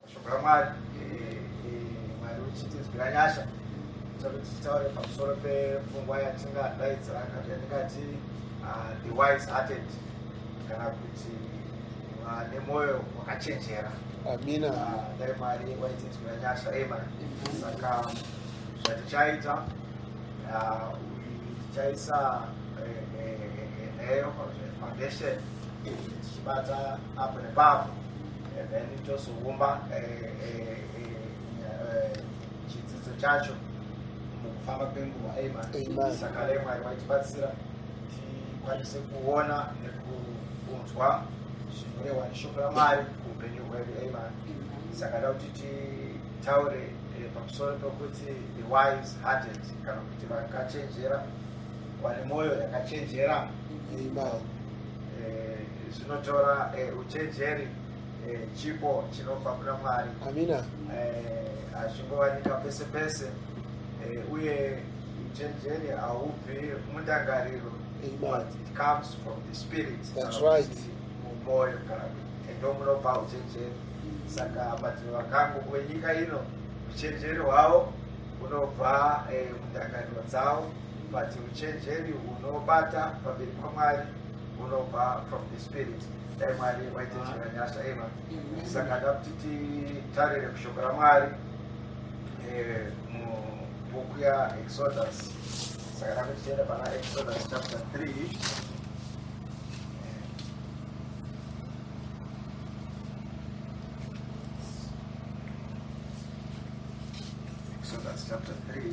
mashoko amwari mwari uchitinzwira nyasha kuti titaure pamusoro pepfungwa yatingadaidzira kana yatingati ah, the wise hearted kana kuti ah, nemwoyo wakachenjera amina ah, dai mwari waitinzwira nyasha ema saka zvatichaita tichaisa eh, eh, eh, nheyo foundation tichibata apo nepapo and then tozoumba eh, eh, eh, chidzidzo chacho mukufamba kwenguva saka dai mwari vaitibatsira tikwanise kuona nekunzwa zvinorehwa neshoko ramwari kuupenyu hwedu amen saka da kuti titaure pamusoro pekuti the wise hearted kana kuti vakachenjera vane mwoyo yakachenjera amen zvinotora uchenjeri chipo chinobva kuna mwari amina hazvingowanika pese pese uye uchenjeri haubvi mundangariro but it comes from the spirit that's right mumoyo kana ndomunobva uchenjeri saka madziro vakangu kwenyika ino uchenjeri hwavo unobva mundangariro dzavo but uchenjeri hunobata pamberi pamwari hunobva from the spirit dai mwari waitechera nyasha eva saka da kuti titarire kushoko ramwari eh, mubhuku yaexodus saka da kuti tienda pana exodus chapter 3 chapter 3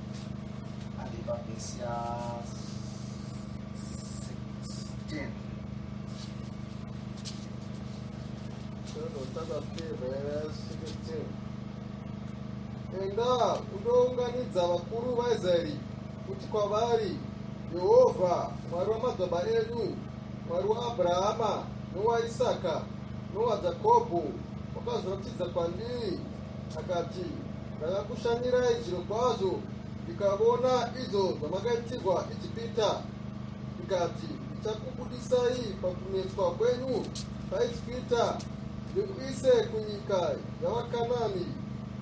enda unounganidza vakuru vaisraeri kuti kwavari jehovha mwari wamadzibaba edu mwari waabrahama nowaisaka nowajakobho wakazoratidza kwandiri Akati, Ndakakushanyirai zvirokwazvo ndikavona izvo zvamakaitirwa Ijipita, ndikati, Ndichakubudisai pakunetswa kwenyu paIjipita ndikuise kunyika yavaKanani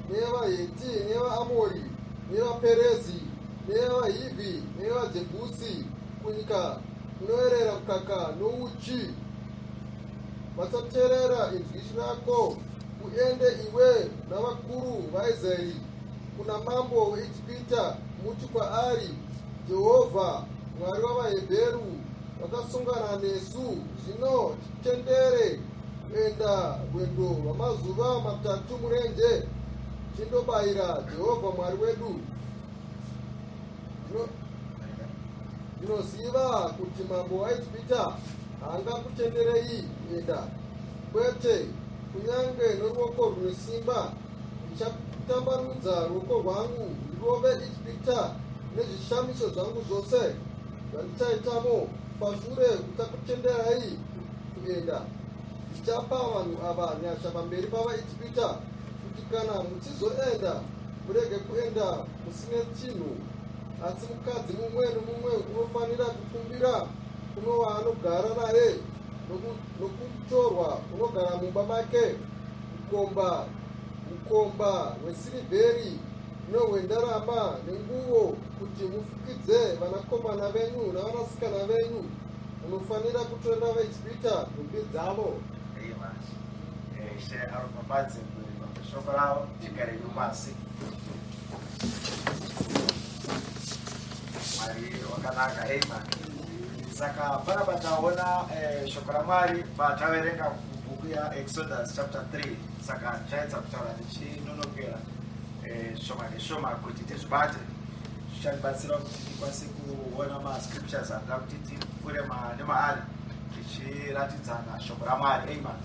neyevaHeti neyevaAmori neyevaPerezi neyevaHivhi neyevaJebhusi, kunyika kunoerera mukaka nouchi. Vasaterera inzwi rako, uende iwe navakuru vaIsraeri kuna mambo weIjipita, muti kwaari, Jehovha, Mwari wavaHebheru, vakasungana nesu, zvino titendere kuenda rwendo rwamazuva matatu murenje, tindobayira Jehovha Mwari wedu. ndinoziva kuti mambo waijipita haangakutenderei kuenda kwete kunyange noruoko rune simba ndichatambanudza ruoko rwangu ndirove ijipita nezvishamiso zvangu zvose zvandichaitamo pashure kuchakutenderai kuenda ndichapa vanhu ava nyasha pamberi pavaijipita kuti kana muchizoenda murege kuenda musine chinhu asi mukadzi mumwe nomumwe unofanira kukumbira kuno waanogara naye nokutorwa unogara mumba make ukomba ukomba hwesirivheri nohwendarama nenguvo kuti mufukidze vanakomana venyu navanasikana venyu munofanira kutorera vaisipita nhumbi dzavo shoko ravo tigare nyumasi mwari wakanaka amen saka panapa taona eh, shoko ramwari pataverenga bhuku yaexodus chapter 3 saka chaedza kutaura tichinonokera eh, shoma neshoma kuti tizvibate zvichatibatsira kuti tikwanise kuona mascriptures anoda kuti tipfure nemaari zvichiratidzana shoko ramwari amen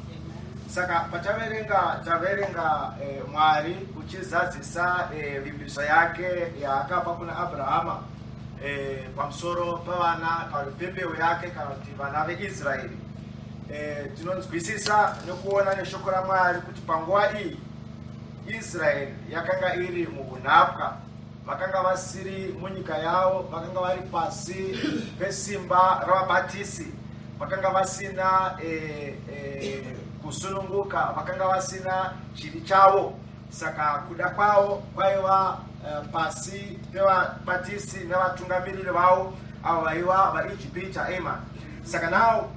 saka pataverenga taverenga eh, mwari uchizadzisa eh, vimbiso yake yaakapa kuna abrahama eh, pamusoro pavana kana kuti pembeu yake kana kuti vana veisraeri eh, tinonzwisisa nekuona neshoko ramwari kuti panguva iyi israeri yakanga iri muunapwa vakanga vasiri munyika yavo vakanga vari pasi pesimba ravabatisi vakanga vasina e, e, kusununguka vakanga vasina chiri chavo saka kuda kwavo kwaiva e, pasi pevabatisi nevatungamiriri vavo avo vaiva vaijipita ema saka nawo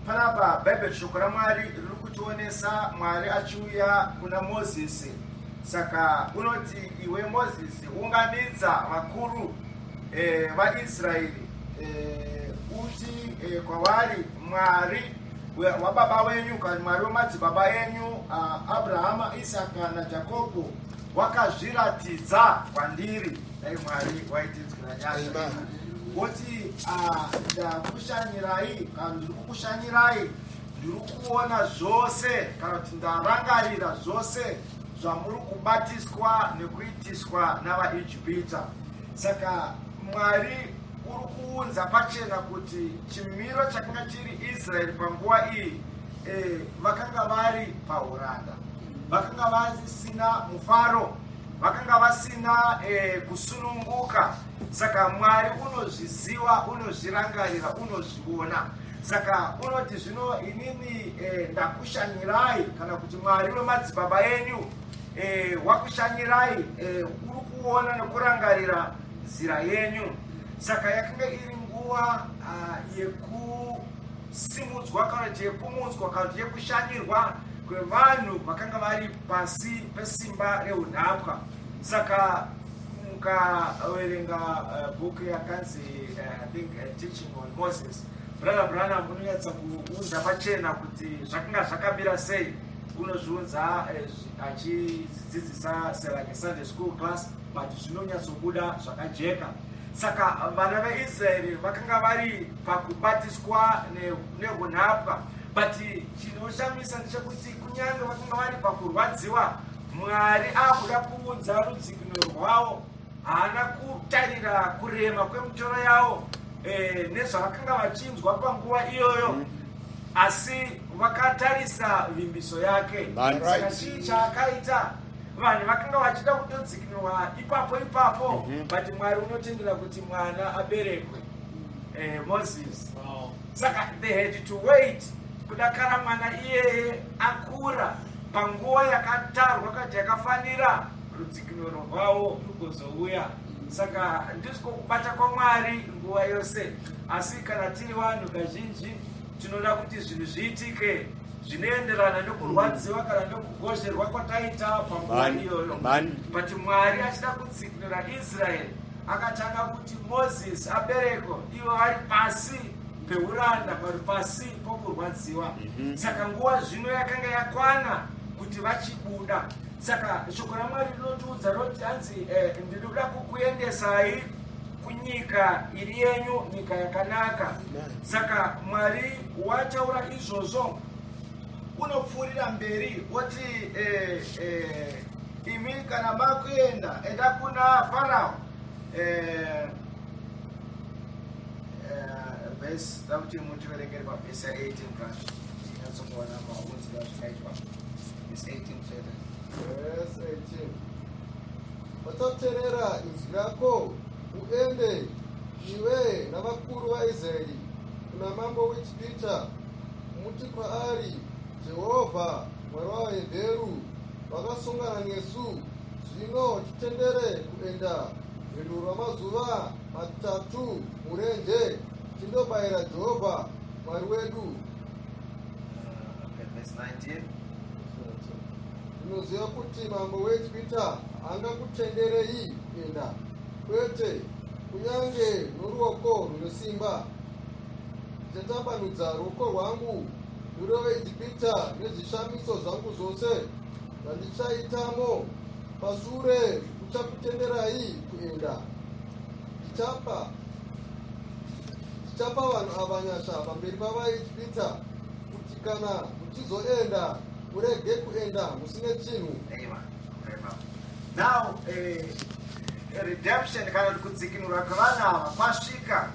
panapa bhaibheri shoko ramwari riri kutionesa mwari achiuya kuna mozisi Saka unoti iwe Mozisi unganidza vakuru eh, vaIsraeri eh, uti eh, kwavari Mwari wababa wenyu kana Mwari wemadzibaba enyu uh, Abrahama, Isaka naJakobo wakazviratidza kwandiri, dai Mwari waitinzwira nyasha woti uh, ndakushanyirai kana ndiri kukushanyirai Ndiri kuona zvose kana kuti ndarangarira zvose zvamuri kubatiswa nekuitiswa navaijipita saka mwari uri kuunza pachena kuti chimiro chakanga chiri israeri panguva iyi eh, vakanga vari pauranda vakanga vasina mufaro vakanga vasina eh, kusununguka saka mwari unozviziva unozvirangarira unozviona Saka unoti zvino inini eh, ndakushanyirai kana kuti Mwari wemadzibaba enyu eh, wakushanyirai eh, uri kuona nekurangarira nzira yenyu. Saka yakange iri nguva ah, yekusimudzwa kana kuti yekumutswa kana kuti yekushanyirwa kwevanhu vakanga vari pasi pesimba reunhapwa. Saka mukaverenga eh, bhuku yakanzi eh, I think, eh, Teaching Moses brother Branham unonyatsa kuunza pachena kuti zvakanga zvakamira sei unozviunza eh, achidzidzisa selake Sunday school class but zvinonyatsobuda zvakajeka saka vana veIsraeri vakanga vari pakubatiswa nehunhapwa but chinoshamisa ndechekuti kunyange vakanga vari pakurwadziwa Mwari akuda kuunza rudzikinuro rwawo haana kutarira kurema kwemitoro yawo eh, nezvavakanga vachinzwa panguva iyoyo mm. asi vakatarisa vimbiso yake saka chii chaakaita vanhu vakanga vachida kutodzikinwa ipapo ipapo mhm. but mwari unotendera kuti mwana aberekwe eh, moses saka they had to wait kudakara mwana iyeye akura panguva yakatarwa kati yakafanira rudzikinuro rwavo rugozouya saka ndizvo kubata kwamwari nguva yose asi kana tiri vanhu kazhinji tinoda kuti zvinhu zviitike zvinoenderana nokurwadziwa kana nokugozherwa kwataita panguva iyoyo but mwari achida kutsikinura israeri akatanga kuti moses abereko ivo vari pasi peuranda vari pasi pokurwadziwa mhm. saka nguva zvino yakanga yakwana kuti vachibuda Saka shoko raMwari rinotiudza roti hanzi eh, ndinoda kukuendesai kunyika iri yenyu, nyika yakanaka. Saka Mwari wataura izvozvo, unopfuurira mberi woti eh, eh, imi kana makuenda enda kuna Farao eh, vhesi takuti mutiverengere pavhesi ya 18 plus tinyatsongoona maunzi azvikaitwa It's 18 fedha. Yes, 18. Vachaterera izwi rako uende iwe navakuru vaIsraeri kuna mambo weGipita muti kwaari Jehovha Mwari wavaHebheru vakasungana nesu zvino titendere kuenda rwendo rwamazuva matatu murenje tindobayira Jehovha Mwari wedu unoziva kuti mambo weegipita angakutenderei kuenda kwete kunyange noruoko rwunosimba ndichatambanudza ruoko rwangu rurove egipita nezvishamiso zvangu zvose zvandichaitamo pasure uchakutenderai kuenda ndichapa Tichapa vanhu ava nyasha pamberi pavaitipita kuti kana muchizoenda kurege kuenda musine chinhu. Now, eh, redemption kana kuti kudzikinurwa kwevana ava kwasvika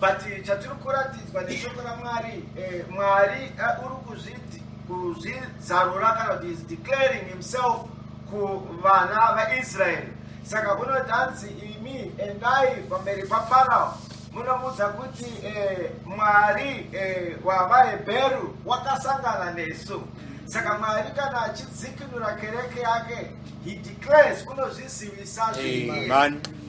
but chatiri kuratidzwa neshoko ramwari eh, mwari eh, uri kuzviti kuzvizarura kana kuti is declaring himself kuvana vaisraeri Saka unoti hanzi imi endai pamberi paFarao munomuudza kuti eh, Mwari eh, wavaHebheru wakasangana nesu. Saka Mwari kana achidzikinura kereke yake, he declares unozvizivisa zviri.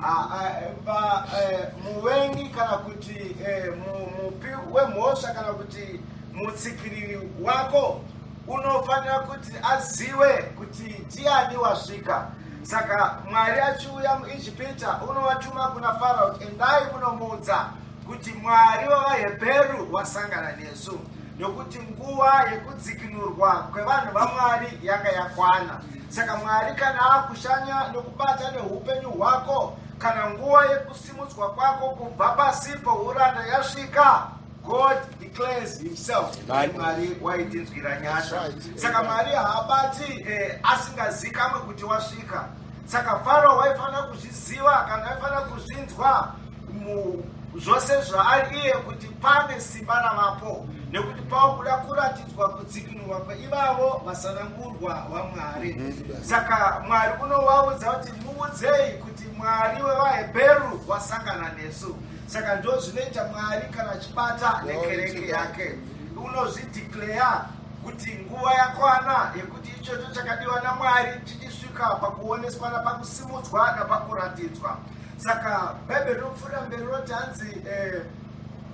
Ah, ah, ba, eh, muvengi kana kuti eh, mu- mupi wemhosva kana kuti mutsikiriri wako unofanira kuti aziwe kuti ndiani wasvika Saka Mwari achiuya muIjipita unovatuma kuna Farao kuti endai munomuudza kuti Mwari wavaHebheru wasangana nesu nokuti nguva yekudzikinurwa kwevanhu vaMwari yanga yakwana. Saka Mwari kana akushanya nokubata neupenyu hwako kana nguva yekusimudzwa kwako kubva pasipo uranda yasvika, God declares himself Mwari waitinzwira nyasha saka Mwari haabati eh, asingazikamwe kuti wasvika saka Faro waifanira kuzviziva kana waifanira kuzvinzwa zvose zvaari iye kuti pane simba ravapo nekuti pakuda kuratidzwa kudzikinurwa kweivavo vasanangurwa vamwari mhm. saka mwari unovaudza kuti muudzei kuti mwari wevahebheru wasangana nesu Saka ndozvinoita Mwari kana achibata nekereke yake. Unozvideclare kuti nguva yakwana yekuti ichocho chakadiwa naMwari chichisvika pakuoneswa napakusimudzwa napakuratidzwa. Saka Bhaibheri rinopfuurira mberi roti hanzi eh,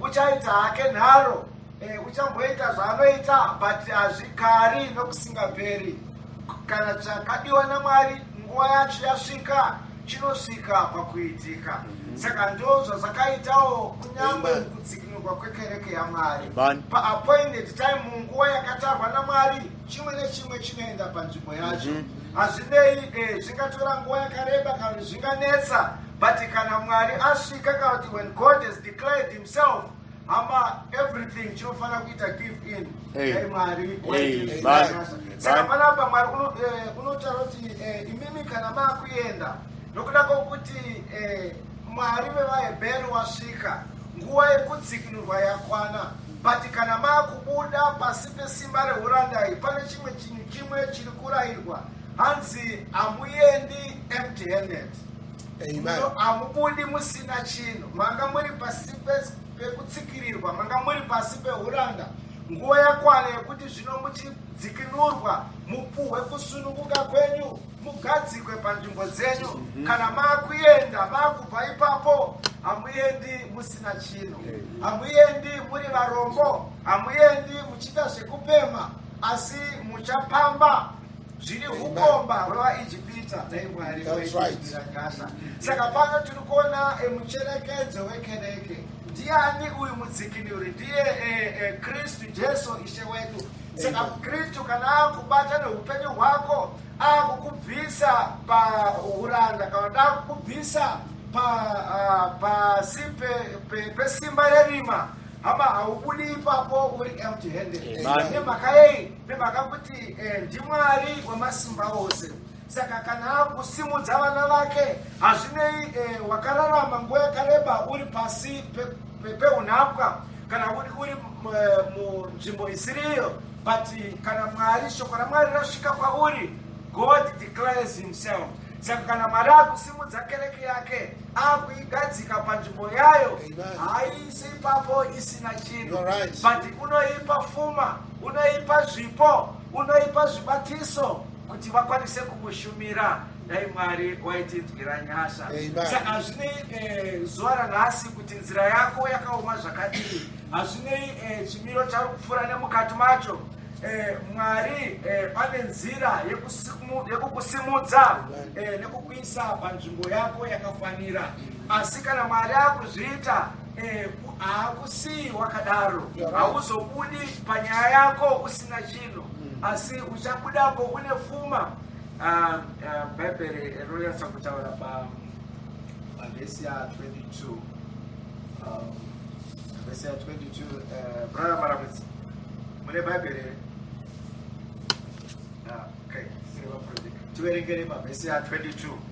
uchaita hake nharo Eh, uchamboita zvaanoita but hazvikari nokusingaperi kana chakadiwa namwari nguva yacho yasvika chinosvika pakuitika mhm. saka ndo zvazakaitawo kunyange kudzikinurwa kwekereke yamwari paappointed time munguva yakatarwa namwari chimwe nechimwe chinoenda panzvimbo yacho mhm. hazvinei eh, zvingatora nguva yakareba kana zvinganetsa but kana mwari asvika kana kuti when god has declared himself Hama everything chinofanira kuita give in. Hey. Hey, Mwari. Hey, hey, Saka panapa Mwari eh, unotaura kuti eh, imimi kana makuenda nokuda kwokuti eh, Mwari vevaHebheru wasvika nguva yekudzikinurwa yakwana but kana makubuda pasi pesimba rehurandai pane chimwe chinhu chimwe chiri kurayirwa hanzi hamuendi empty handed hamubudi musina chinhu manga muri pasi pekutsikirirwa manga muri pasi peuranda nguva yakwana yekuti zvino muchidzikinurwa mupuhwe kusunukuka kwenyu mugadzikwe panzvimbo dzenyu mhm. kana maakuenda maakubva ipapo hamuendi musina chinhu hamuendi muri varombo hamuendi muchiita zvekupema asi muchapamba zviri hukomba hwevaijipita dai mwari vaitira gasa saka pano tiri kuona eh, mucherekedzo wekereke ndiani uyu mudzikinuri ndiye eh, eh, kristu jesu ishe wedu saka kristu kana akubata neupenyu hwako akukubvisa pauranda kana takukubvisa ah, pasi pesimba rerima hama haubudi ipapo uri empty handed nemhaka yei Nemhaka kuti eh, ndiMwari wemasimba ose saka kana akusimudza vana vake hazvinei eh, wakararama nguva yakareba uri pasi peunhapwa pe, kana uri, uri eh, munzvimbo isiriyo but kana mwari shoko ramwari rasvika kwauri god declares himself saka kana mwari akusimudza kereke yake akuigadzika panzvimbo yayo haiisi ipapo isina chinhu but unoipa fuma unoipa zvipo unoipa zvibatiso kuti vakwanise kumushumira dai mwari waitinzwira nyasha saka hazvinei eh, zuva ranhasi kuti nzira yako yakaoma zvakadii hazvinei eh, chimiro chari kupfuura nemukati macho eh, mwari pane nzira yekukusimudza nekukuisa panzvimbo yako yakafanira asi kana mwari akuzviita Eh, hakusii wakadaro hauzobudi panyaya yako usina chinhu mm. asi uchabudapo une fuma ah, ah, bhaibheri rinonyatsa kutaura pavhesi ya 22 um, vhesi ya 22 eh, brother maramudzi mune bhaibheri here ah, okay tiverengere pavhesi ya 22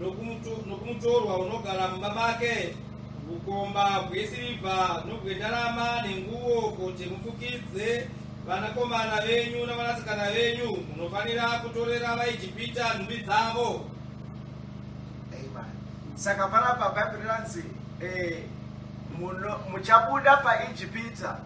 nokumutorwa unogara mumba make ukomba hwesirivha nobwendarama nenguwo kuti mupfukidze vanakomana venyu navanasikana venyu munofanira kutorera vaijipita nhumbi dzavo saka panapa bhaibheri ranzi eh, muchabuda paijipita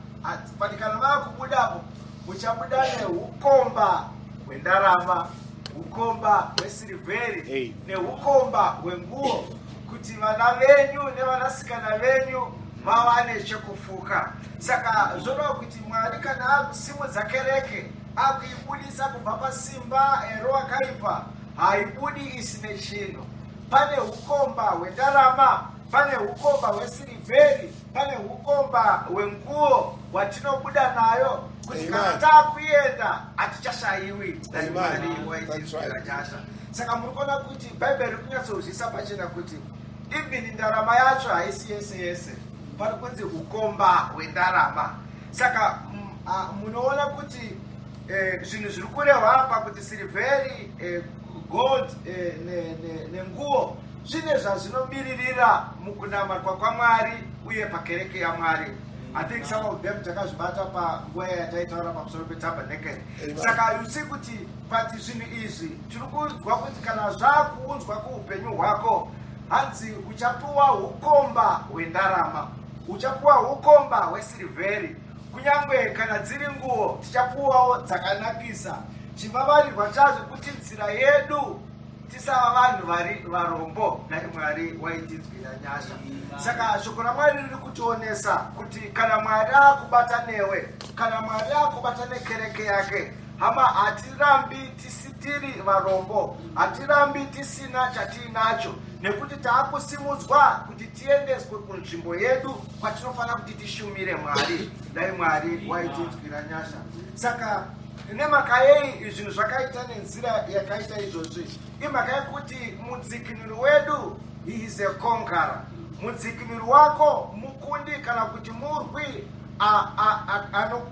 patikana vava kubudapo Muchabuda nehukomba hwendarama, hukomba hwesirivheri nehukomba hwenguo kuti vana venyu nevanasikana venyu vawane chekufuka. Saka zvoreva kuti Mwari kana akusimudza kereke akuibudisa kubva pasimba ero akaipa haibudi isine chinhu. Pane hukomba hwendarama, pane hukomba hwesirivheri Pane hukomba hwenguo hwatinobuda nayo kuti kana takuenda hatichashaiwi naiwaiiaasha saka muri kuona kuti bhaibheri ri kunyatsozvisa pachena kuti even ndarama yacho haisi yese yese pari kunzi ukomba hwendarama saka munoona kuti eh, zvinhu zviri kurehwa apa kuti sirivheri eh, gold eh, nenguo zvine zvazvinomiririra mukunamatwa kwamwari uye pakereke yamwari i think some of them takazvibata panguva yataitaura pamusoro petabernakele saka haisi kuti pati zvinhu izvi tiri kunzwa kuti kana zvakuunzwa kuupenyu hwako hanzi uchapiwa ukomba hwendarama uchapiwa ukomba hwesirivheri kunyange kana dziri nguo tichapiwawo dzakanakisa chivavarirwa chazvo kuti nzira yedu tisava vanhu vari varombo dai mwari waitinzwira nyasha saka shoko ramwari riri kutionesa kuti kana mwari akubata newe kana mwari akubata nekereke yake hama hatirambi tisitiri varombo hatirambi tisina chatiinacho nekuti taakusimudzwa kuti tiendeswe kunzvimbo yedu kwatinofanira kuti tishumire mwari dai mwari waitinzwira nyasha saka Nemhaka yei zvinhu zvakaita nenzira yakaita izvozvi? Imhaka yekuti mudzikinuri wedu he is a conqueror. Mudzikinuri wako mukundi kana kuti murwi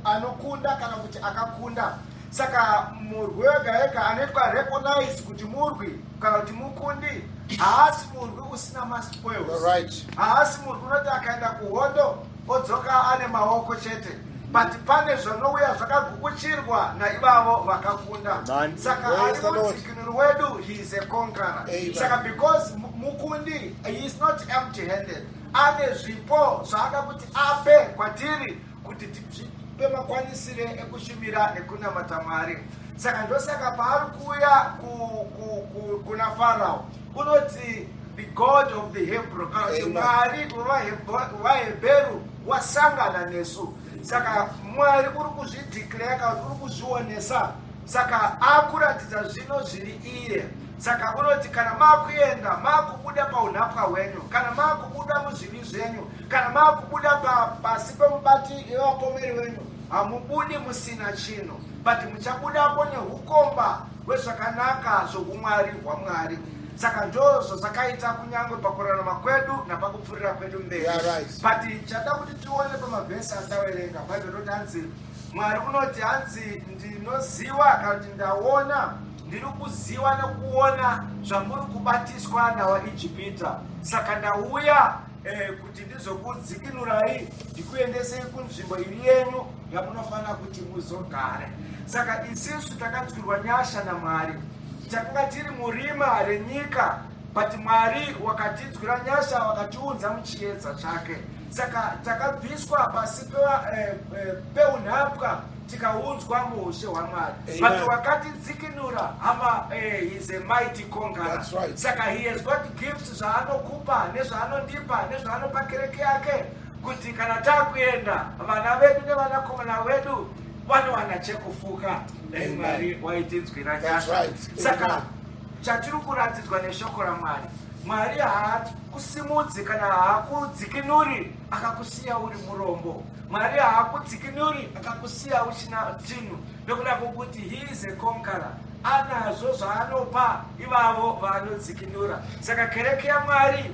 anokunda kana kuti akakunda. Saka murwi wega ega anoitwa recognize kuti murwi kana kuti mukundi haasi murwi usina maspoils. Haasi murwi unoti akaenda kuhondo odzoka ane maoko chete but pane zvanouya zvakagukuchirwa naivavo vakakunda saka ari mudzikinuri wedu he is a conqueror saka because mukundi he is not empty handed ane zvipo zvaada kuti ape kwatiri kuti tipe makwanisire ekushumira nekunamata mwari saka ndosaka paari kuuya kuna farao Unoti the God of the Hebrew kana kuti Mwari wavaHebheru wasangana nesu. Saka Mwari uri kuzvideclare kana kuti uri kuzvionesa saka akuratidza zvino zviri iye saka unoti kana makuenda makubuda paunhapwa hwenyu kana makubuda muzvivi zvenyu kana makubuda pasi pemubati yevapomeri wenyu hamubudi musina chinhu but muchabudapo neukomba wezvakanaka zvoumwari hwaMwari. Saka ndozvo zvakaita kunyange pakurarama kwedu napakupfurira kwedu mberi. Yeah, right. But chada kuti tione pamavhesi andawerenga Bible roti hanzi Mwari unoti hanzi ndinoziva kana kuti ndaona ndiri kuziva nekuona zvamuri kubatiswa nawaIjipita. Saka ndauya Eh, kuti ndizokudzikinurai ndikuendesei kunzvimbo iri yenyu yamunofanira kuti muzogare saka isisu takadzwirwa nyasha namwari takanga tiri murima renyika but mwari wakatidzwira nyasha wakatiunza muchiedza chake saka takabviswa pasi eh, eh, peunhapwa tikaunzwa muushe hwaMwari but wakatidzikinura hama eh, he's a mighty conqueror right. saka he has got gifts zvaanokupa nezvaanondipa nezvaanopa kereke yake kuti kana takuenda vana vedu nevanakomana vedu vanowana chekufuka dai mwari waitinzwira nyasha saka chatiri kuratidzwa neshoko ramwari mwari haakusimudzi kana haakudzikinuri akakusiya uri murombo Mwari haakudzikinuri akakusiya uchina chinhu nekuda kwokuti he is a conqueror anazvo zvaanopa ivavo vaanodzikinura saka kereke yamwari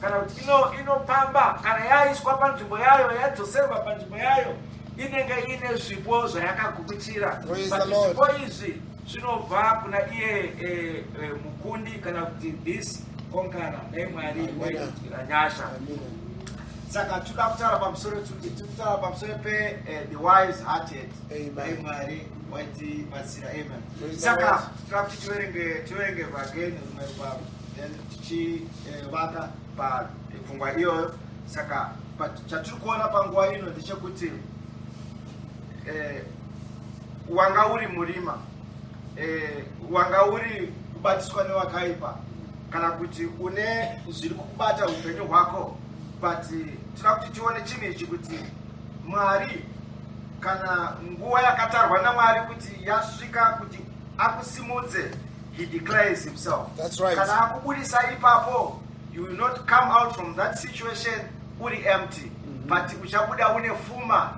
kana kuti inopamba kana yaiswa panzvimbo yayo yadzoserwa panzvimbo yayo inenge iine zvipo zvayakagukuchira zvipo izvi zvinobva kuna iye e, e, mukundi kana kuti this konkana dai mwari waitira nyasha saka tinoda kutaura pamusoro tiri kutaura pamusoro pe eh, the wise hearted dai mwari waitibatsira amen saka tinoda kuti tiverenge tiverenge vageni rumwe rwavo then tichivaka eh, papfungwa iyoyo saka chatiri kuona panguva ino ndechekuti eh, wanga uri murima eh, wanga uri kubatiswa newakaipa kana kuti une zviri kukubata upenyu hwako but tira kuti tione chinhu ichi kuti mwari kana nguva yakatarwa namwari kuti yasvika kuti akusimudze he declares himself That's right. kana akubudisa ipapo you will not come out from that situation uri empty mm -hmm. but uchabuda une fuma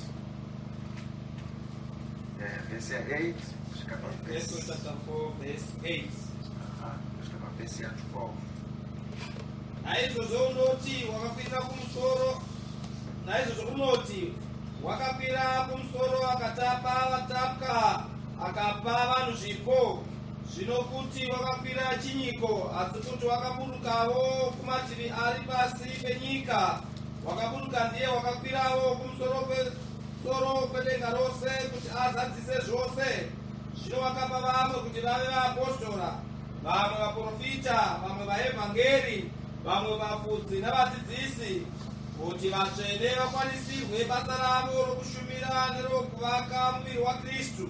naizvozvo unoti wakakwira kumusoro naizvozvo unoti wakakwira kumusoro akatapa vatapwa akapa vanhu zvipo zvino kuti wakakwira chinyiko asi kuti wakaburukawo kumativi ari pasi penyika Wakaburuka ndiye wakakwirawo kumusoro kwesoro kwedenga rose kuti azadzise zvose. Zvino wakapa vamwe kuti vave vaapostora, vamwe vaprofita, vamwe vaevhangeri, vamwe vafudzi navadzidzisi, kuti vatsvene vakwanisirwe basa ravo rokushumira nerokuvaka muviri waKristu.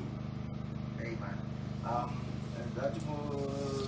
Amen. Um, and that more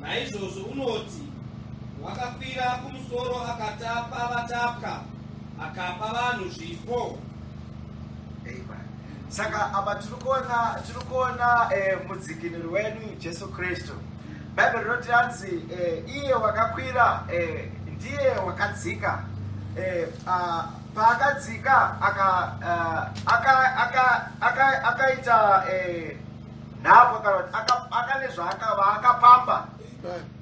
Naizvozvo unoti wakakwira kumusoro akatapa vatapwa akapa vanhu zvipo. Saka apa tiri kuona tiri kuona eh, mudzikinuri wedu Jesu Kristu. Bhaibheri rinoti anzi eh, iye wakakwira eh, ndiye wakadzika eh, uh, paakadzika akaita eh, nhapo kana kuti akane zvaakapamba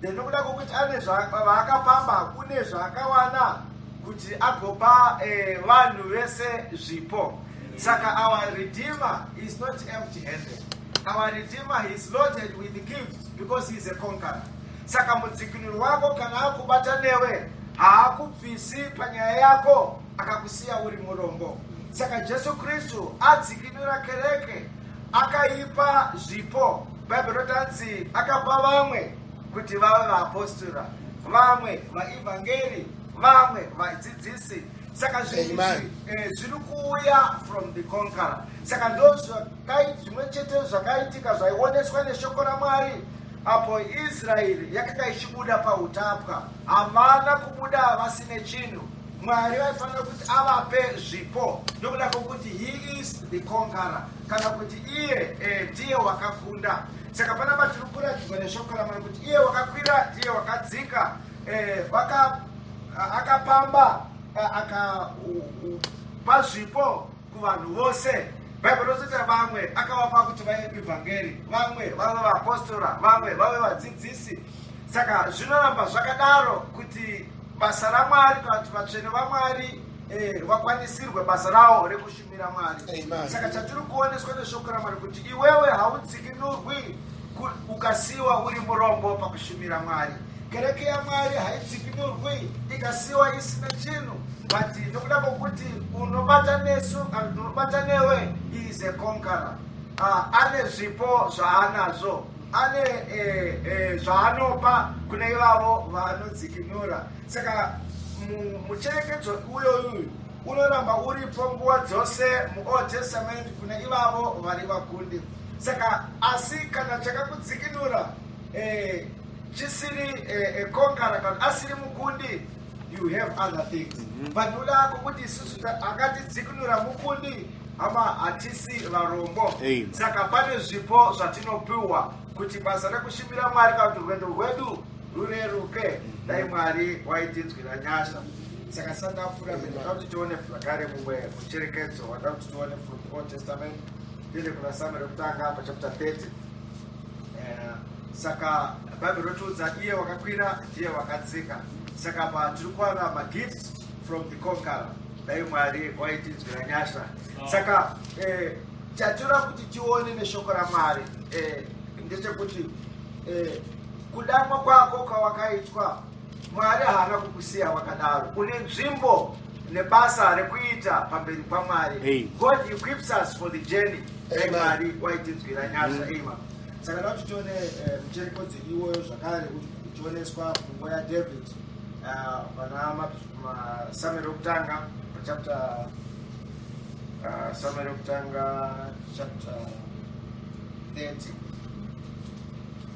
then nokuda kwokuti ane vaakapamba kune zvaakawana kuti agopa eh, vanhu vese zvipo saka our redeemer is not empty handed our redeemer he is loaded with gifts because he is a conqueror saka mudzikinuri wako kana akubata newe haakubvisi panyaya yako akakusiya uri murombo saka jesu kristu adzikinura kereke akaipa zvipo bhaibheri rotanzi akapa vamwe kuti vave vaapostora vamwe vaevhangeri vamwe vadzidzisi saka zvinhu eh, zviri kuuya from the conqueror saka ndo zvimwe chete zvakaitika zvaioneswa neshoko ramwari apo israeri yakanga ichibuda pautapwa havana kubuda vasine chinhu Mwari vaifanira kuti avape zvipo nokuda kwokuti he is the conqueror kana kuti iye eh, ndiye wakakunda. Saka panapa tiri kuratidzwa neshoko raMwari kuti iye wakakwira ndiye wakadzika eh, waka, akapamba eh, akapa zvipo kuvanhu vose bhaibheri rinozoti vamwe akavapa kuti vaive kuevhangeri vamwe vave vaapostora vamwe vave vadzidzisi saka zvinoramba zvakadaro kuti basa ramwari kana kuti vatsvene vamwari eh, vakwanisirwe basa rawo rekushumira mwari Amen. saka chatiri kuoneswa neshoko ramwari kuti iwewe haudzikinurwi ku- ukasiyiwa uri murombo pakushumira mwari kereke yamwari haidzipi norway ikasiwa isina chinhu but nokuda kwokuti unobata nesu kana kuti unobata newe is a conqueror uh, ane zvipo zvaanazvo ane eh, eh, zvaanopa kune ivavo vaanodzikinura saka mucherekedzo uyoyu unoramba uripo nguva dzose muold testament kune ivavo vari vakundi saka asi kana chakakudzikinura eh, chisiri eh, eh, konkara kana asiri mukundi you have other things mhm. panhu lako kuti isusu akatidzikinura mukundi hama hatisi varombo saka pane zvipo zvatinopiwa kuti basa rekushumira mwari kana kuti rwendo rwedu rureruke mhm. dai mwari waitinzwira nyasha saka sandapfuura zvinhu zvoda kuti tione zvakare mumwe mucherekedzo wada kuti tione from old testament ndine kuna samuel rekutanga pachapter 30 Eh, saka bible rotiudza iye wakakwira ndiye wakadzika saka apa tiri kuwana magifts from the conqueror dai mwari waitinzwira nyasha saka eh, chatoda kuti tione neshoko ramwari eh, ndechekuti eh, kudamwa kwako kwawakaitwa Mwari haana kukusiya wakadaro. Une nzvimbo nebasa rekuita pamberi paMwari. Hey. God equips us for the journey. Hey, Mwari waitinzwira nyasha. Mm. Hey, mama. Saka da kuti tione eh, muchereko dziriwoyo zvakare kuti tioneswa pfungwa yaDavid eh, pana masamueri okutanga chapter uh, summary of Tanga chapter 30.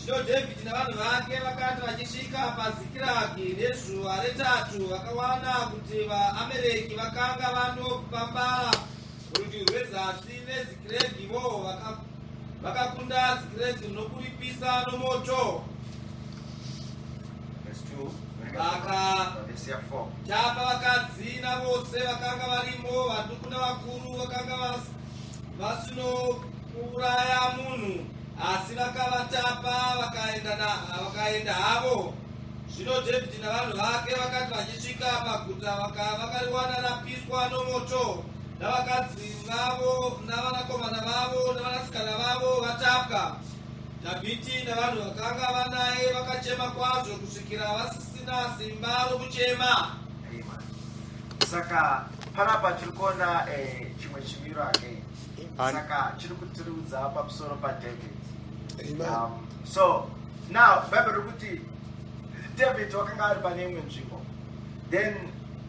Zvino Dhavhidhi navanhu vake vakati vachisvika paZikiragi nezuva retatu vakawana kuti vaAmereki vakanga vandopambara Rudyi rwezasi neZikiregi vo vakakunda Zikiregi nokuripisa nomoto. Vakatapa vakadzi navose vakanga varimo, vaduku navakuru vakanga vasinouraya munhu, asi vakavatapa vakaenda havo. Zvino Dhavhidhi navanhu vake vakati vachisvika paguta vakariwana rapiswa nomoto. navakadzi vavo navanakomana vavo navanasikana vavo vatapwa. Dhavhidhi navanhu vakanga vanaye vakachema kwazvo kusvikira vasisina simba rokuchema. saka panapa tiri kuona eh, chimwe chimiro again Amen. saka chiri kutiriudza pamusoro padavid um, so now bible riri kuti david wakanga ari pane imwe nzvimbo then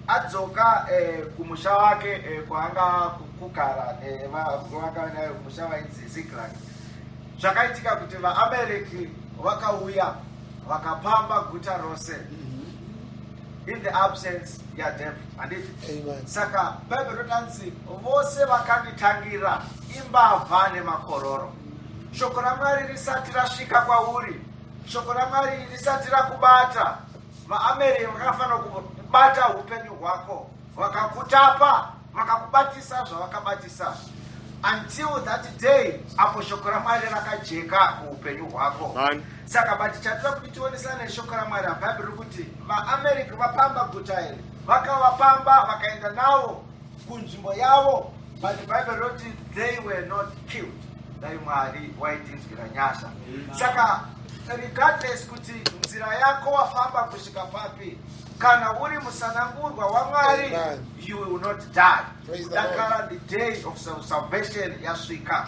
adzoka eh, kumusha wake eh, kwaanga kugara nevavaka eh, nayo musha vainzi ziklag zvakaitika kuti vaamereki vakauya vakapamba guta rose mm-hmm. in the absence yadep handiti saka bhaibheri rotanzi vose vakanditangira imbavha nemakororo shoko ramwari risati rasvika kwauri shoko ramwari risati rakubata VaAmerika vakafanira kubata upenyu hwako, vakakutapa, vakakubatisa zvavakabatisa until that day apo shoko ramwari rakajeka muupenyu hwako saka but chatira kuti tionesana neshoko ramwari abhaibheri rikuti vaamerica vapamba guta iri vakavapamba vakaenda navo kunzvimbo yavo but bible roti they were not killed dai mwari waitinzwira nyasha saka regardless kuti nzira yako wafamba kusvika papi kana uri musanangurwa wamwari you will not die kudakara the day of salvation yasvika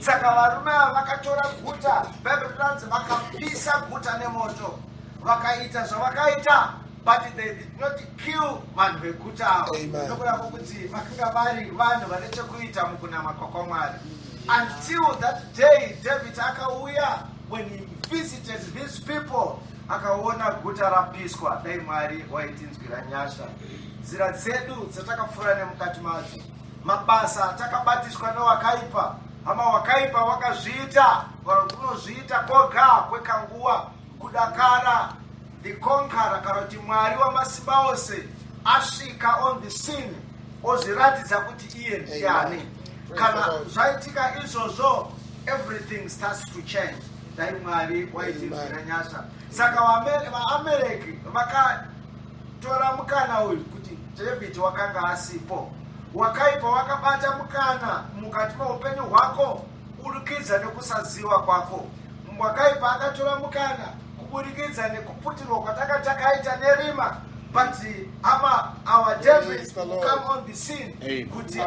saka varume ava vakatora guta bible rinanzi vakapisa guta nemoto vakaita zvavakaita but they did not kill vanhu veguta avo nokureva kuti vakanga vari vanhu vane chekuita mukunama kwakwamwari until that day david akauya when he visited these people akaona guta rapiswa dai mwari waitinzwira nyasha nzira dzedu dzatakapfuura nemukati madzo mabasa atakabatiswa newakaipa hama wakaipa wakazviita vanhu kunozviita koga kwekanguva kudakara The conqueror kana kuti mwari wamasimba ose asvika on the scene ozviratidza kuti iye ndiani kana zvaitika izvozvo everything starts to change dai mwari waitinzwira nyasha saka vaamereki vakatora mukana uyu kuti david wakanga asipo wakaipa wakabata mukana mukati meupenyu hwako Kuburikidza nekusaziva kwako, Mbwakaipa akatora mukana kuburikidza nekuputirwa kwatanga takaita nerima but ama our devils will come on the scene kuti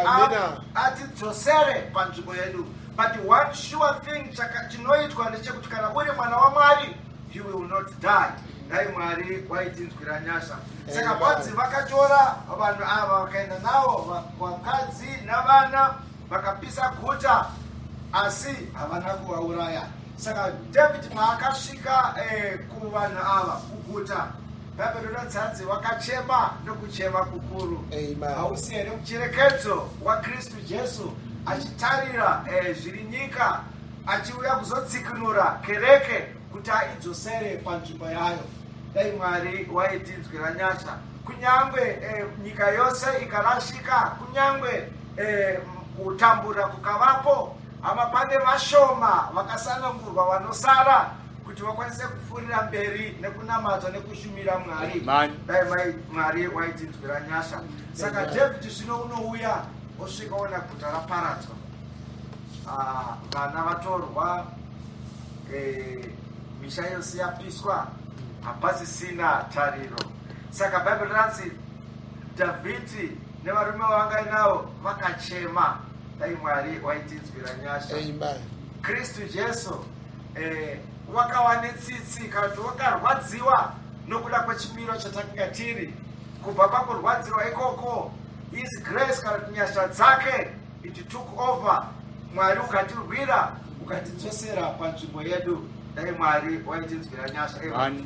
atidzosere panzvimbo yedu but one sure thing chinoitwa ndechekuti kana uri mwana wamwari you will not die dai mwari waitinzwira nyasha saka kwanzi vakatora vanhu ava vakaenda navo vakadzi navana Vakapisa guta asi havana kuvauraya. Saka David paakasvika eh, kuvanhu ava kuguta Bhabherona dzanzi wakachema nokuchema kukuru. Hausi here mucherekedzo waKristu Jesu achitarira eh, zviri nyika achiuya kuzotsikinura kereke kuti aidzosere panzvimbo yayo dai mwari waitinzwira nyasha kunyange eh, nyika yose ikarashika kunyange Eh, kutambura kukavapo hama pane vashoma vakasanangurwa vanosara kuti vakwanise kupfuurira mberi nekunamata nekushumira mwari dai mai mwari waitinzwira nyasha saka david zvino unouya osvika ona guta raparadzwa ah, vana vatorwa eh, misha yose yapiswa hapasisina tariro saka bhaibheri ranzi Dhavhidhi nevarume vavangainavo vakachema. Dai Mwari waitinzwira nyasha. Amen. Kristu Jesu eh, wakawa netsitsi kana kuti wakarwadziwa nokuda kwechimiro chatakanga tiri kubva pakurwadzirwa ikoko his grace kana kuti nyasha dzake it took over mwari ukatirwira ukatidzosera panzvimbo yedu dai mwari waitinzwira nyasha Amen. Amen.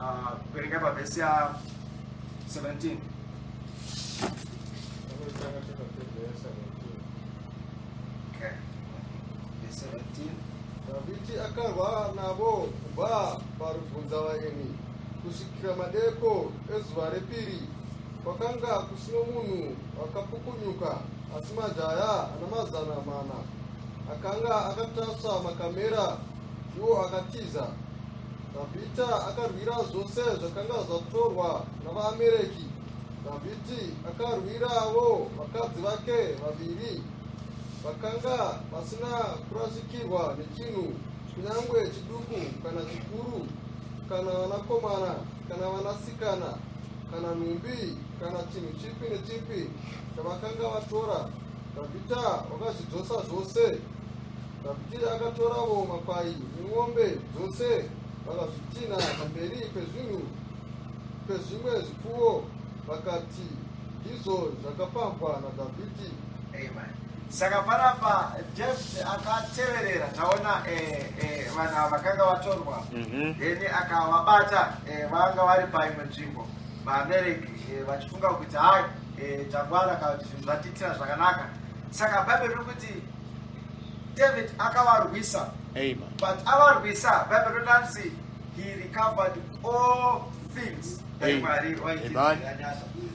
Ah, kuverenga uh, pavhesi ya 17 Davidi akarwa navo kubva parubvunza vaeni kusvikira madeko ezuva repiri kwakanga kusino munhu akapukunyuka asi majaya ana mazana mana akanga akatasva makamera iwo akatiza Dhavhidhi akarwira zvose zvakanga zvatorwa navaAmereki. Dhavhidhi akarwirawo vakadzi vake vaviri vakanga vasina kurasikirwa nechinhu, kunyange chiduku kana chikuru, kana vanakomana kana vanasikana, kana nhumbi kana chinhu chipi nechipi chavakanga vatora. Dhavhidhi wakazvidzosa zvose. Kaputira akatoravo makwai nemombe dzose vakazvitinha pamberi pezvinhu pezvimwe zvipfuwo vakati ndizvo zvakapambwa nadhavhidhi saka panapa david akateverera taona eh, eh, vanhu ava vakanga vatorwa mhm. then akavabata eh, vanga vari paimwe nzvimbo vaamereki vachifunga kuti hai tangwana kana kuti zvinhu zvatiitira zvakanaka saka bhaibheri riri kuti david akavarwisa but avarwisa bible rinonzi he recovered all things mwari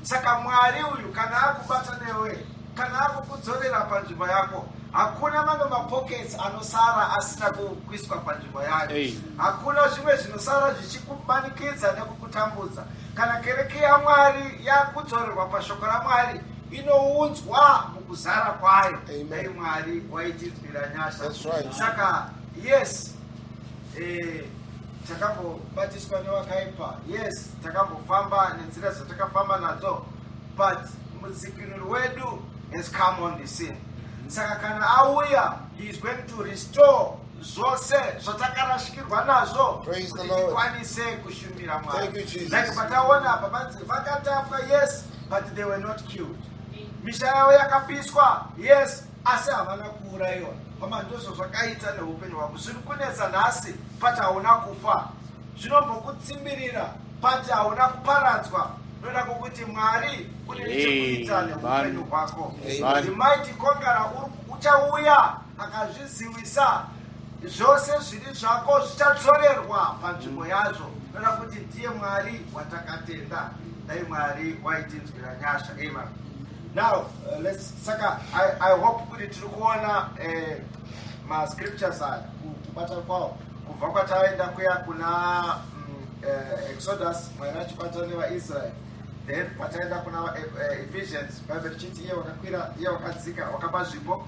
saka mwari uyu kana akubata newe kana akukudzorera panzvimbo yako hakuna mamwe mapockets anosara asina kuiswa panzvimbo yayo hakuna zvimwe zvinosara zvichikumanikidza nekukutambudza kana kereke yamwari yakudzorerwa pashoko ramwari inoudzwa mukuzara kwayo dai mwari waitinzwira nyasha saka yes eh, takambobatiswa newakaipa yes takambofamba nenzira dzatakafamba nadzo but mudzikinuri wedu has come on the scene saka kana auya he is going to restore zvose zvatakarasikirwa nazvo kuti tikwanise kushumira mwari like pataona apa vanzi vakatapwa yes but they were not killed misha yavo yakapiswa yes asi havana kuurayiwa hama ndizvo zvakaita neupenyu hwako zviri kunetsa nhasi but hauna kufa zvinombokutsimbirira but hauna kuparadzwa noda kokuti mwari une nechekuita neupenyu hwako mighty conqueror uchauya akazviziwisa zvose zviri zvako zvichadzorerwa panzvimbo yazvo kana kuti ndiye mwari watakatenda dai mwari waitinzwira nyasha ema now uh, let's saka i, I hope kuti tiri kuona eh, mascriptures aya kubata kwawo kubva kwataenda kuya kuna mm, eh, exodus mwari achibata nevaisraeri then pataenda kuna eh, eh, ephesians bible chiti iye wakakwira iye wakadzika wakapa zvipo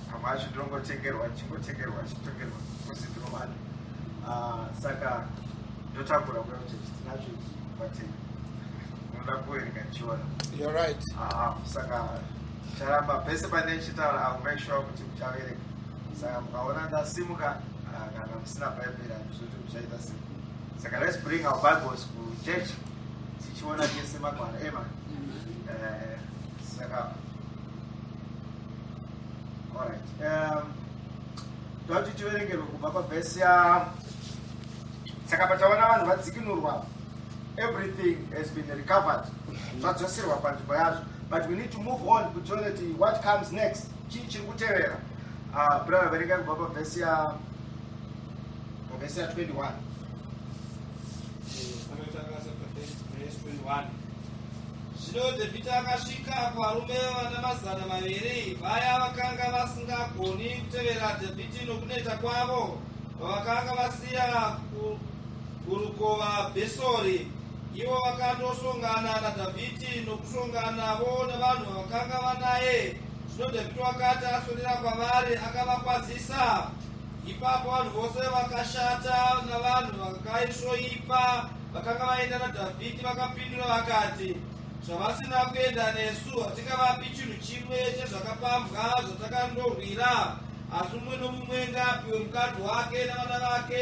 Pamwe acho ndinongotengerwa ndichingotengerwa ndichitengerwa kuzi ndinovana ah, saka ndotakura kuda kuti tinacho izvi kubatenga unoda kuverenga ndichiona You're right. Ah, saka charamba pese pane chitaura i will make sure kuti muchaverenga saka mukaona ndasimuka ah, kana musina bhaibheri handizvoti muchaita sei saka let's bring our bibles kuchurch tichiona tese magwara ema Eh, saka Alright. Um, tauti tiverengerwe kubva pavhesi ya saka pataona vanhu vadzikinurwa everything has been recovered zvadzoserwa panzvimbo yazvo but we need to move on kutione ti what comes next chii chiri kutevera ah, brother verenga kubva pavhesi ya pavhesi ya 21 Verse 21. Zvino Dhevhidhi akasvika kuvarume vana mazana maviri vaya vakanga vasingagoni kutevera Dhevhidhi nokuneta kwavo, vavakanga vasiya ku- kurukova Bhesori. Ivo vakandosongana naDhavhidhi nokusonganavo navanhu vavakanga vanaye. Zvino Dhevhidhi wakati aswedera kwavari akavakwazisa. Ipapo vanhu vose vakashata navanhu vakaisvoipa vakanga vaenda naDhavhidhi vakapindura vakati, Zvavasina kuenda nesu hatingavapi chinhu chimwe chezvakapambwa zvatakandorwira, asi mumwe nomumwe ngaapiwe mukadzi wake navana vake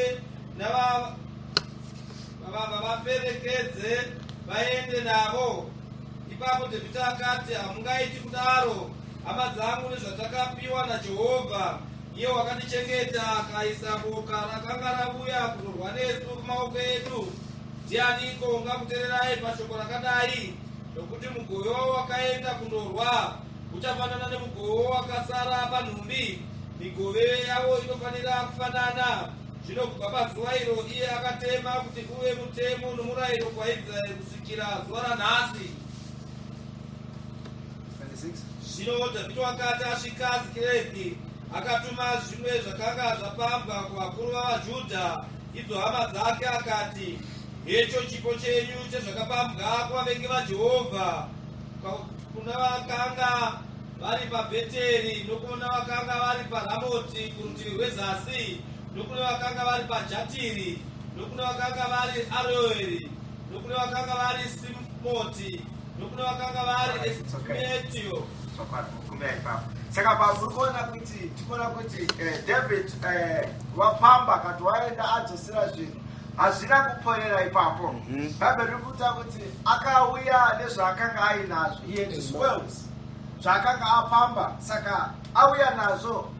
nava- vava- vavaperekedze vaende navo. Ipapo Dhavhidhi akati, Hamungaiti kudaro, hama dzangu, nezvatakapiwa naJehovha. Iye wakandichengeta akaisa boka rakanga ravuya kuzorwa nesu kumaoko edu. Ndianiko ungakutererai pashoko rakadai? Nokuti mugoyo wakaenda kundorwa uchafanana nemugoyo wakasara panhumbi. Migove yavo inofanira kufanana. Zvino kubva pazuva iro iye akatema kuti uve mutemo nomurayiro kwaIsraeri kusvikira zuva ranhasi. Zvino Dhavhidhi wakati asvika Zikiregi, akatuma zvimwe zvakanga zvapambwa kuvakuru vavaJudha, idzo hama dzake, akati, Hecho chipo chenyu chezvakapambwa kuvavengi vaJehovha, kuna vakanga vari paBheteri, nokuna vakanga vari paRamoti kurutivi rwezasi, nokuna vakanga vari paJatiri, nokuna vakanga vari Aroeri, nokuna vakanga vari Simoti, nokune vakanga vari estimatiyo saka pamuri kuona kuti tikuona kuti eh, david eh, wapamba kati waenda adzosera zvinhu hazvina kuponera ipapo mhm. bhaibheri riri kuita kuti akauya nezvaakanga ainazvo he had his wells zvaakanga apamba saka auya nazvo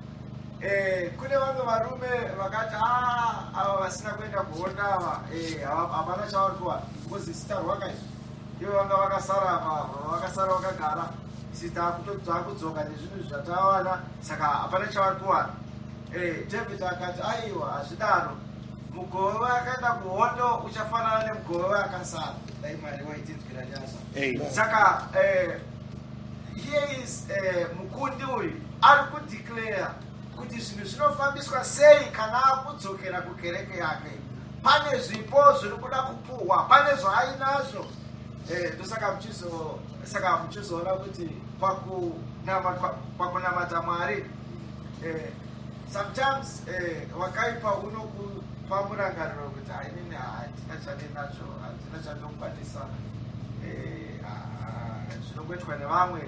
Eh, kune vamwe varume vakati ah, ava vasina kuenda kuhonda ava eh, havana chavari kuwana because isitarwaka izvi Ivo vanga vakasara apa vakasara vakagara isi taakudzoka nezvinhu zvatawana saka hapana chavari kuwana eh, david akati aiwa hazvidaro mugove vayakaenda kuhondo uchafanana nemugove vayakasara dai mwari waitinzwira nyasha saka eh, here is eh, mukundi uyu ari kudeclare kuti zvinhu zvinofambiswa sei kana akudzokera kukereke yake pane zvipo zviri kuda kupuhwa pane zvaainazvo eh, ndosaka saka muchizoona kuti pakunamata mwari eh, sometimes eh, wakaipa unokupa murangariro kuti hainini hatina chandinacho hatina chandokwanisa zvinongoitwa nevamwe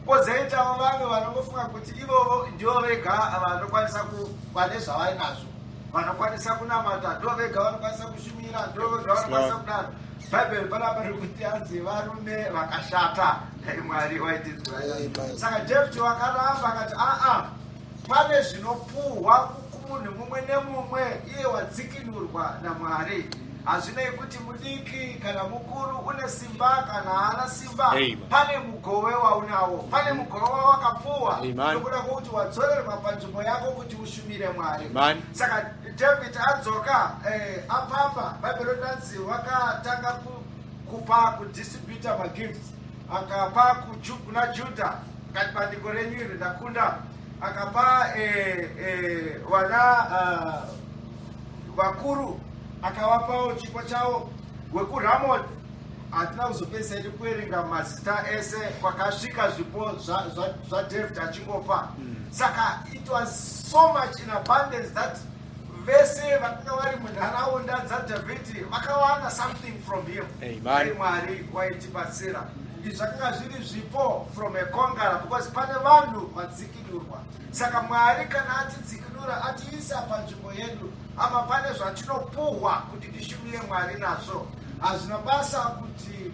kozoitawo vamwe vanongofunga kuti ivovo ndivo vega vanokwanisa kuva nezvavainazvo vanokwanisa kunamata ndo vega vanokwanisa kushumira ndo vega vanokwanisa kudaro bhaibheri panapa riri kuti anzi varume vakashata dai mwari waitidzwasaka jefti wakaramba akati aa pane zvinopuhwa kumunhu mumwe nemumwe iye wadzikinurwa namwari hazvinei kuti mudiki kana mukuru une simba kana haana simba pane mugove waunawo pane mugove wawakapuwa nokuda kwokuti wadzorerwa panzvimbo yako kuti mire mwari saka david adzoka eh, apapa bhaibheri rinanzi wakatanga kupa kudistributa magifts akapa kuna juda kati bandiko renyu iri ndakunda akapa eh, eh, vana ah, vakuru akawapawo chipo chavo wekuramoti hatina kuzopedzisa idu kuerenga mazita ese kwakasvika zvipo zvaDavid achingopa hmm. saka it was so much in abundance that vese vakanga vari munharaunda dzadhavhidhi vakawana something from him ai mwari waitibatsira izvi zvakanga zviri zvipo from ekongara because pane vanhu vadzikinurwa saka mwari kana atidzikinura atiisa panzvimbo yedu apa pane zvatinopuhwa kuti tishumire mwari nazvo Hazvina basa kuti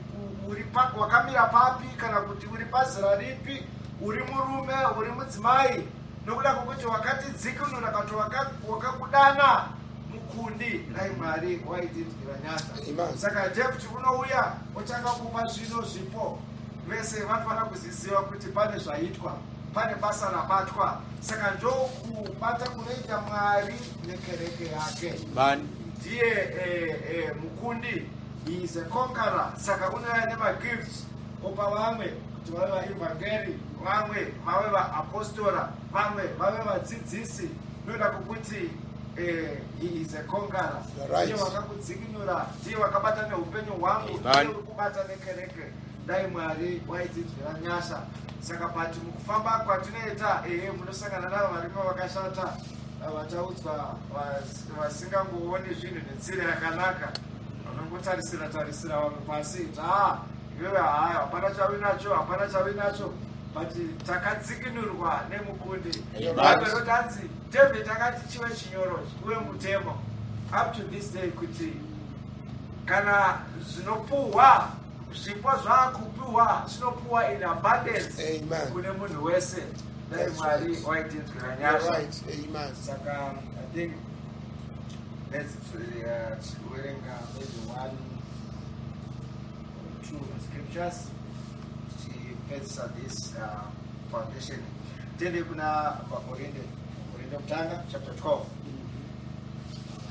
uri wakamira papi kana kuti uri pazera ripi, uri murume, uri mudzimai, nokuda kwokuti wakati dzikunura kati wakakudana mukundi dai mwari waitindira nyasha saka jekuti unouya otanga kupa zvino zvipo vese vanofanira kuziziva kuti pane zvaitwa pane basa rabatwa saka ndokubata kunoita mwari nekereke yake bani ndiye eh, eh, mukundi is a conqueror saka unouya nemagifts opa vamwe kuti vave vaevhangeri vamwe vave vaapostora vamwe vave vadzidzisi inoda kukuti eh, he is a conqueror You're right. ndiye wakakudzikinura ndiye wakabata neupenyu hwangu Amen. ndiye uri kubata nekereke Dai Mwari waitinzwira nyasha. Saka pati mukufamba kwatinoita ehe munosangana navo varimo vakashata vataudzwa vasingangooni zvinhu netsira yakanaka vanongotarisira tarisira vanhu pasi taa iwewe haa hapana chavi nacho hapana chavi nacho but takadzikinurwa nemukundi bhaibheri rotanzi david akati chive chinyoro uye mutemo up to this day kuti kana zvinopuhwa Zvipo zvakupiwa zvinopiwa in abundance Amen. kune munhu wese dai That's mwari right. waitinzwira You're nyasha right. Amen. saka i think let's uh, tichiverenga maybe one or two scriptures tichipedzisa this uh, foundation tiende kuna vakorinde korinde kutanga chapter 12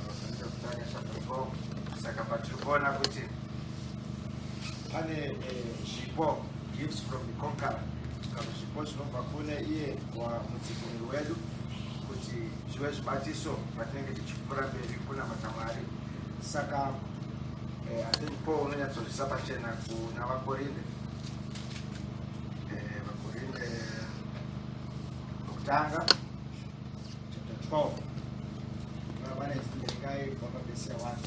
Vakorinde kutanga chapter 12 saka patiri kuona kuti pane eh, zvipo gifts from the conqueror kana zvipo zvinobva kune iye mudzikinuri wedu kuti zvive zvibatiso patinenge tichipfuura mberi kunamata mwari saka eh, i think paul unonyatsozvisa pachena kuna vakorinde eh, vakorinde vokutanga chapter 12 vane zimbekai vapabesea wani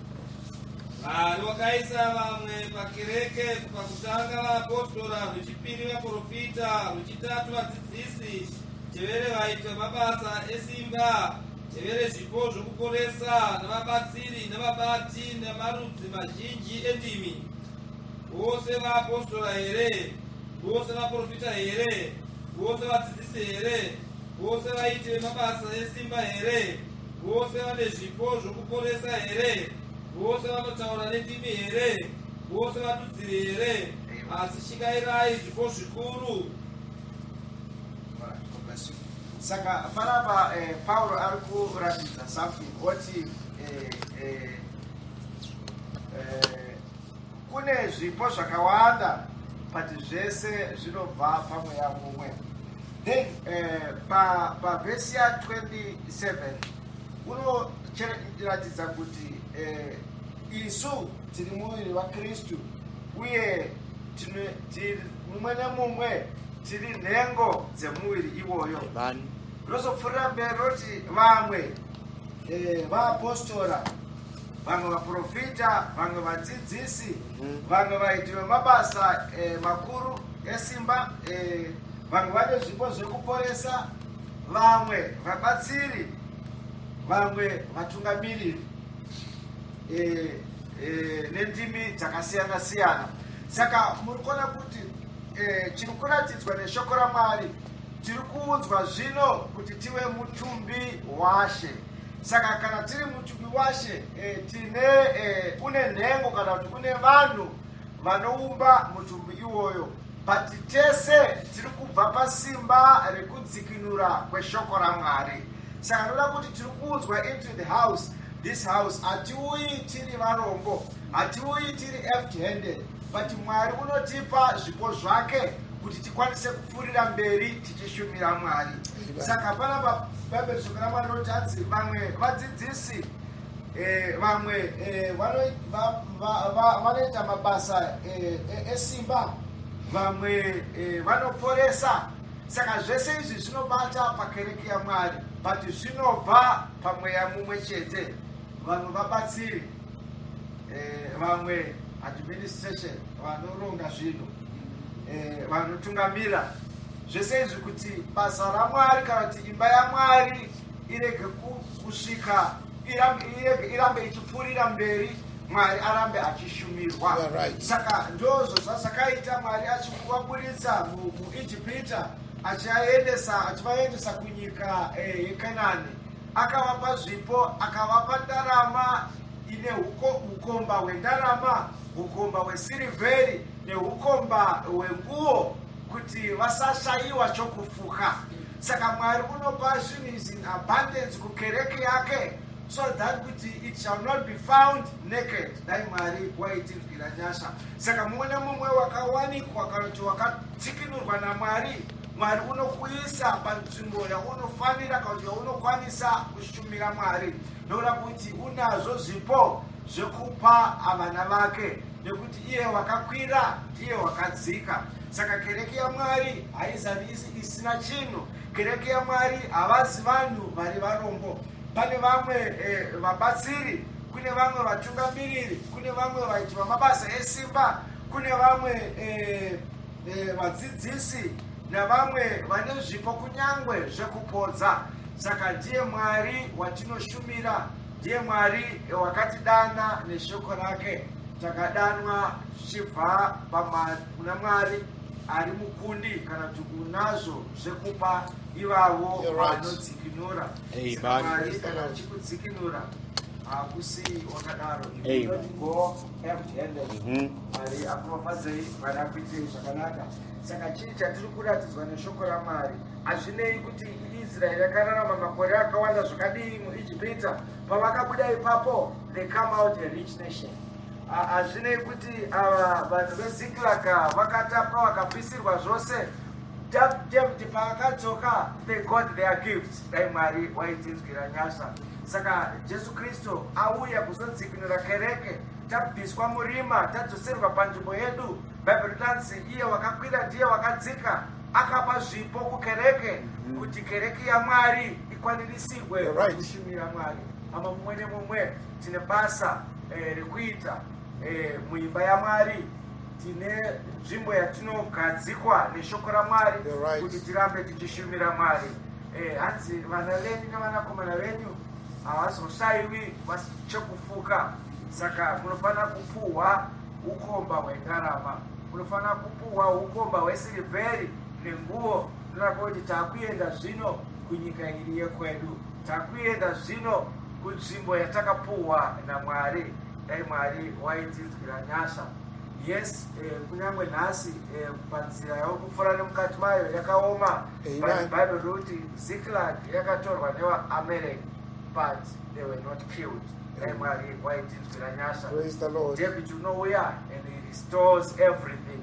Vanhu vakaisa vamwe pakereke kubva kutanga vaapostora rwechipiri vaprofita rwechitatu vadzidzisi tevere vaitwa mabasa esimba tevere zvipo zvokuporesa navabatsiri navabati namarudzi mazhinji endimi vose vaapostora here vose vaprofita here vose vadzidzisi here vose vaiti vemabasa esimba here Vose vane zvipo zvokuporesa here? Vose vanotaura nendimi here? Vose vadudziri here? Asi shingairai zvipo zvikuru. Saka panapa eh, Pauro ari kuratidza something oti eh, eh, eh, kune zvipo zvakawanda but zvese zvinobva pamweya mumwe. then eh, pa pa verse ya 27 unoratidza kuti eh, isu tiri muviri vakristu uye mumwe nemumwe tiri nhengo dzemuviri iwoyo rozopfuurira mberi roti vamwe eh, vaapostora vamwe vaprofita vamwe vadzidzisi Vanhu vaiti vemabasa eh, makuru esimba eh, vanhu vane zvipo zvekuporesa vamwe vabatsiri vamwe vatungamiriri eh, eh, nendimi dzakasiyana siyana saka muri kuona kuti eh, chiri kuratidzwa neshoko ramwari tiri kuudzwa zvino kuti tive mutumbi washe saka kana tiri mutumbi washe e, tine e, kune nhengo kana kuti kune vanhu vanoumba mutumbi iwoyo but tese tiri kubva pasimba rekudzikinura kweshoko ramwari saka ndoda kuti tiri kuunzwa into the house this house hatiuyi tiri varombo hatiuyi tiri empty handed but mwari unotipa zvipo zvake kuti tikwanise kupfuurira mberi tichishumira mwari saka panapa bhaibheri shoko ramwari rinoti hanzi vamwe vadzidzisi eh, vamwe eh, vanoita mabasa eh, esimba vamwe vanoporesa saka zvese izvi zvinobata pakereke yamwari but zvinobva pamweya mumwe chete vanhu vabatsiri eh, vamwe administration vanoronga zvinhu eh, vanotungamira zvese izvi kuti basa ramwari kana kuti imba yamwari irege kusvika irambe ichipfuurira mberi mwari arambe achishumirwa saka ndozvo zvazvakaita mwari achikuvaburitsa muijipita achivaendesa kunyika eh, yekanani Akavapa zvipo, akavapa ndarama ine ukomba hwendarama, ukomba hwesirivheri neukomba hwenguo kuti vasashayiwa chokufuka. Saka Mwari unopa zvinhu izvi in abundance kukereke yake so that kuti it shall not be found naked dai mwari waitinzwira nyasha saka mumwe nemumwe wakawanikwa kana kuti wakatsikinurwa namwari mwari unokuisa panzvimbo yaunofanira kana kuti yaunokwanisa kushumira mwari ndoda kuti unazvo zvipo zvekupa avana vake nekuti iye wakakwira ndiye wakadzika saka kereke yamwari haizavisi isina chinhu kereke yamwari havazi vanhu vari varombo pane vamwe eh, vabatsiri eh, kune vamwe vatungamiriri kune vamwe vaiti vamabasa esimba kune vamwe eh, Eh, vadzidzisi navamwe vane zvipo kunyangwe zvekupodza saka ndiye mwari watinoshumira ndiye mwari wakatidana neshoko rake takadanwa zvichibva kuna mwari ari mukundi kana kuti unazvo zvekupa ivavo vanodzikinura mwari kana achikudzikinura hakusi wakadaro mhm. mwari akuropafadzei mwari akuitei zvakanaka saka chii chatiri kuratidzwa neshoko ramwari hazvinei kuti israeri yakararama makore akawanda zvakadii muijipita pavakabuda ipapo they come out a rich nation hazvinei kuti ava vanhu veziklaka vakatapwa vakapisirwa zvose dapdemti pavakadzoka they got their gifts Dai Mwari waitinzwira nyasha. Saka Jesu Kristu auya kuzodzikinura kereke, tabviswa murima, tadzoserwa panzvimbo yedu. Bhaibheri rinotanzi iye wakakwira ndiye wakadzika, akapa zvipo kukereke mm. kuti kereke yaMwari ikwanirisirwe kushumira Mwari. Ama mumwe nemumwe tine basa eh, rekuita eh, muimba yaMwari. tine nzvimbo yatinogadzikwa neshoko ramwari kuti tirambe tichishumira mwari eh, hanzi vana venyu nevanakomana venyu havazoshayiwi chekufuka saka munofanira kupuhwa ukomba hwendarama munofanira kupuhwa ukomba hwesirivheri nenguvo tonaka kuti takuenda zvino kunyika iri yekwedu takuenda zvino kunzvimbo yatakapuhwa namwari dai mwari waitinzwira nyasha yes eh, kunyange nhasi eh, panzira yokupfuura nemukati mayo yakaoma bhaibheri rokuti ziklag yakatorwa nevaamerek but they were not killed dai mwari waitinzwira nyasha david unouya and he restores everything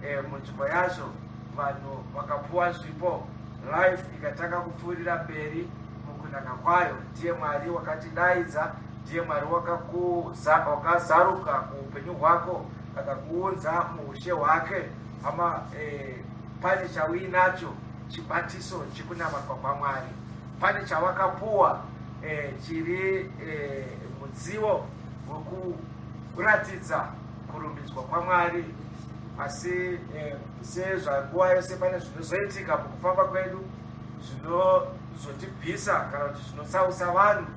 eh, munzvimbo yazvo vanhu vakapuwa zvipo life ikatanga kupfuurira mberi mukunaka kwayo ndiye mwari wakatidaidza ndiye mwari wakazaruka muupenyu hwako akakuunza muushe hwake hama eh, pane chauinacho chibatiso chekunamatwa kwamwari pane chawakapuwa eh, chiri eh, mudziwo wekuratidza kurumbidzwa kwamwari asi eh, sezvanguva yose pane zvinozoitika mukufamba kwedu zvinozotibvisa kana kuti zvinotsausa vanhu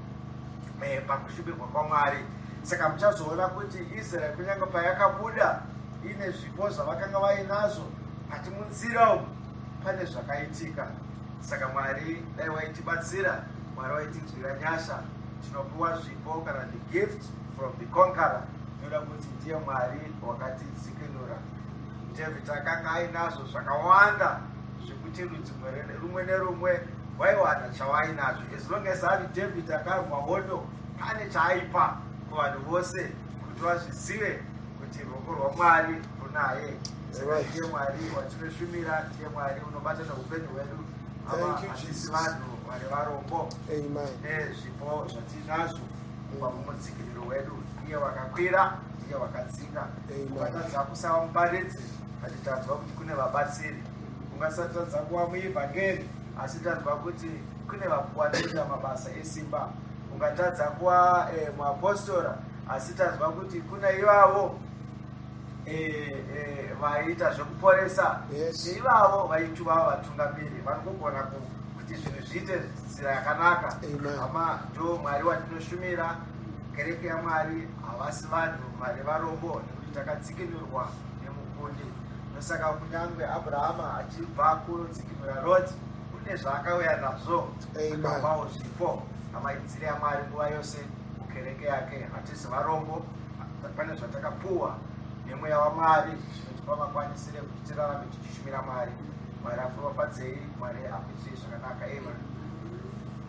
eh, pakushubirwa kwamwari saka muchazoona kuti israeri kunyange payakabuda ine zvipo zvavakanga vainazvo hati munzira umu pane zvakaitika saka mwari dai waitibatsira mwari waitinzwira nyasha tinopiwa zvipo kana the gift from the conqueror inoda kuti ndiye mwari wakatidzikinura david akanga ainazvo zvakawanda zvekuti rudzi rumwe nerumwe waiwana chawainazvo as long as ari david akarwa hondo pane chaaipa kuvanhu vose kuti vazvizive kuti ruoko rwamwari runaye saka ndiye mwari watinoshumira ndiye mwari unobata neupenyu hwedu avaasisi vanhu vari varombo nezvipo zvatinazvo kuva mumutsigiriro wedu iye wakakwira iye wakadzinga ukatadza kusava muparidzi atitanzwa kuti kune vabatsiri Ungasatadza kuva muevhangeri asi tanzwa kuti kune vapuwa kuita mabasa esimba. Ungatadza kuva eh, muapostora asi tanzwa kuti kuna ivavo eh, eh, vaiita eh, zvekuporesa yes. ivavo vaituva vatungamiri vanogona kuti zvinhu zviite nzira yakanaka ama ndo mwari watinoshumira kereke yamwari havasi vanhu vari varombo nekuti takatsikinurwa nemukundi. Ndosaka kunyangwe Abrahama achibva kunodzikinura Roti, kune zvaakauya nazvo akapawo zvipo amaidzire aMwari nguva yose mukereke yake. Hatisi varombo, pane zvatakapuwa nemweya waMwari zvinotipa makwanisire kuti tirarame tichishumira Mwari. Mwari akuropafadzei, Mwari akuitirei zvakanaka. Amen.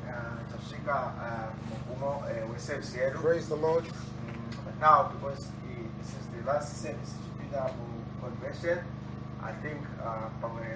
Uh, tasvika uh, mugumo uh, weservice yedu. Praise the Lord. Mm, but now because This is the last service tichipinda muconvention I think uh, pamwe